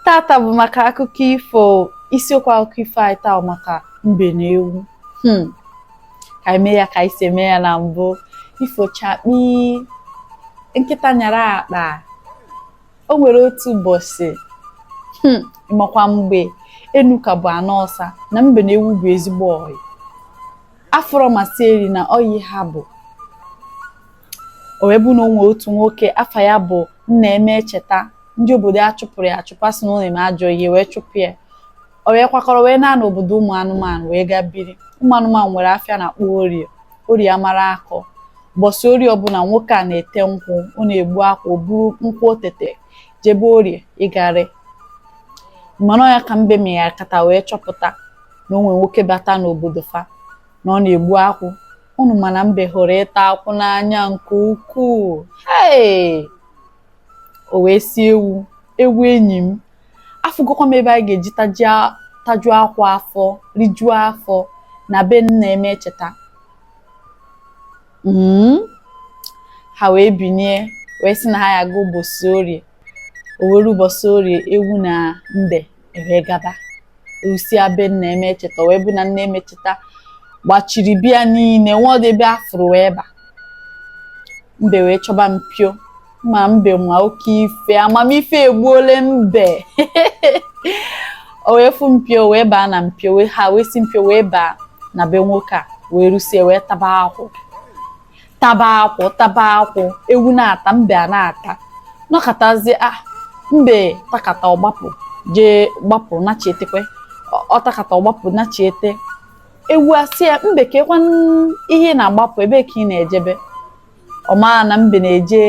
tata bụ maka akụkọ ifo isiokwu akụkọ ifo anyị taa maka mbe na ewu hmm. ka anyị mee ya ka anyị si eme ya na mbụ ifo chakpii nkịta nyara akpa o nwere otu ụbọsị ị makwa mgbe enu ka bụ ana ọsa na mbe na ewu bụ ezigbo ọyị afụrọ masị eri na ọyị ha bụ o wee bụ na o nwe otu nwoke afa ya bụ nna emecheta ndị obodo ya chụpụrụ ya achụpụ a sị na ọ na-eme ajọ ihe wee chụpụ ya o wee kwakọrọ wee naa n'obodo ụmụ anụmanụ wee gaa biri ụmụ anụmanụ nwere afịa a na-akpọ orie orie amara akọ ụbọsị orie ọbụla nwoke a na-ete nkwụ ọ na-egbu akwụ o buru nkwụ o tete jebe orie ịga ere mana ya ka mbe megharịkata wee chọpụta na o nwe nwoke bata n'obodo fa na ọ na-egbu akwụ unu ma na mbe hụrụ ịta akwụ n'anya nke ukwuu hei o wee sị ewu ewu enyi m afụgokwa m ebe anyị ga-eji tajia- tajuo akwụ afọ rijuo afọ na be nna emecheta Mm. ha wee binie wee sị na ha ya-aga ụbọsị orie o wee rue ụbọsị orie ewu na mbe ewee gaba rusie be nna emecheta wee bụ na nna emecheta gbachiri be ya niine o nwerọdị ebe a fụrụ wee ba mbe wee chọba mpio ma mbe nwa oke ife amamife egbuole mbe o wee fụ mpio wee baa na mpio ha wee si mpio wee baa na be nwoke a wee rusie wee taba akwụ taba akwụ taba akwụ ewu na-ata mbe ana-ata nọkatazịa ah, mbe takata ọ gbapụ jee gbapụ nachietekwe ọ takata ọ gbapụ nachiete ewu asị ya mbe kekwa ihe ị na-agbapụ ebee ka ị na-ejebe ọ maa na mbe na-eje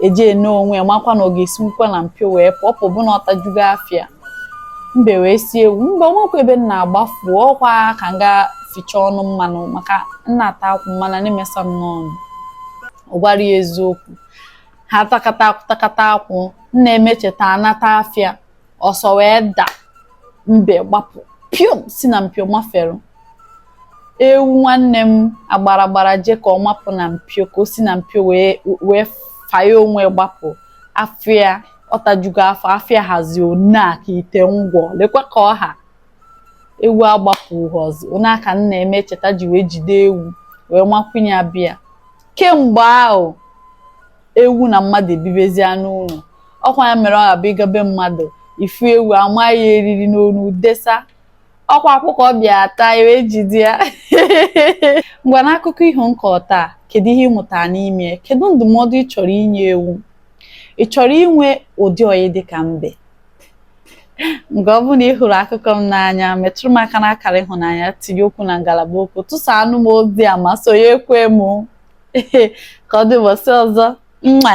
eje ene onwe ya makwa na ọ ga-esinwukwa na mpio wee pụ ọpụpụ na ọ tajugo afọ ya mbe wee sị ewu mba o nwekwa ebe m na-agbafụ ọ kwa ka m gaa ficha ọnụ mmanụ maka m na-ata akwụ mmanụ na-emesa m n'ọnụ ọ gwarọ ya eziokwu ha takata akwụ takata akwụ nna emecheta anata afịa ọsọ wee da mbe gbapụ piom si na mpio mafere ewu nwanne m agbara gbara jee ka ọ mapụ na mpio ka o si na mpio wee wee fanye onwe gbapụ afọ ya ọ tajugo afọ afọ ya hazi ọnaa ka ite ngwọ lekwa ka ọ ha ewu agbapụhọzị ọnaa ka nna emecheta ji wee jide ewu wee nwakwunye ya be ya kemgbe ahụ ewu na mmadụ ebibezie n'ụlọ ọ kwa ya mere ọ ga-abụ ị gaa be mmadụ ị fụ ewu a manye eriri n'onu desa ọkwa akwụkwọ bịa taa iwe jide ya ngwa n'akụkọ iho nke taa kedu ihe ị mụtara n'ime ya kedu ndụmọdụ ị chọrọ inye ewu ị chọrọ inwe ụdị ọyị dị ka mbe ngwa ọ bụ na ị hụrụ akụkọ m n'anya metụrụ m aka n'akara ịhụnanya tinye okwu na ngalaba okwu tụsaanụ m ozi a ma sonye ekwe m ka ọ dị ụbọchị ọzọ mma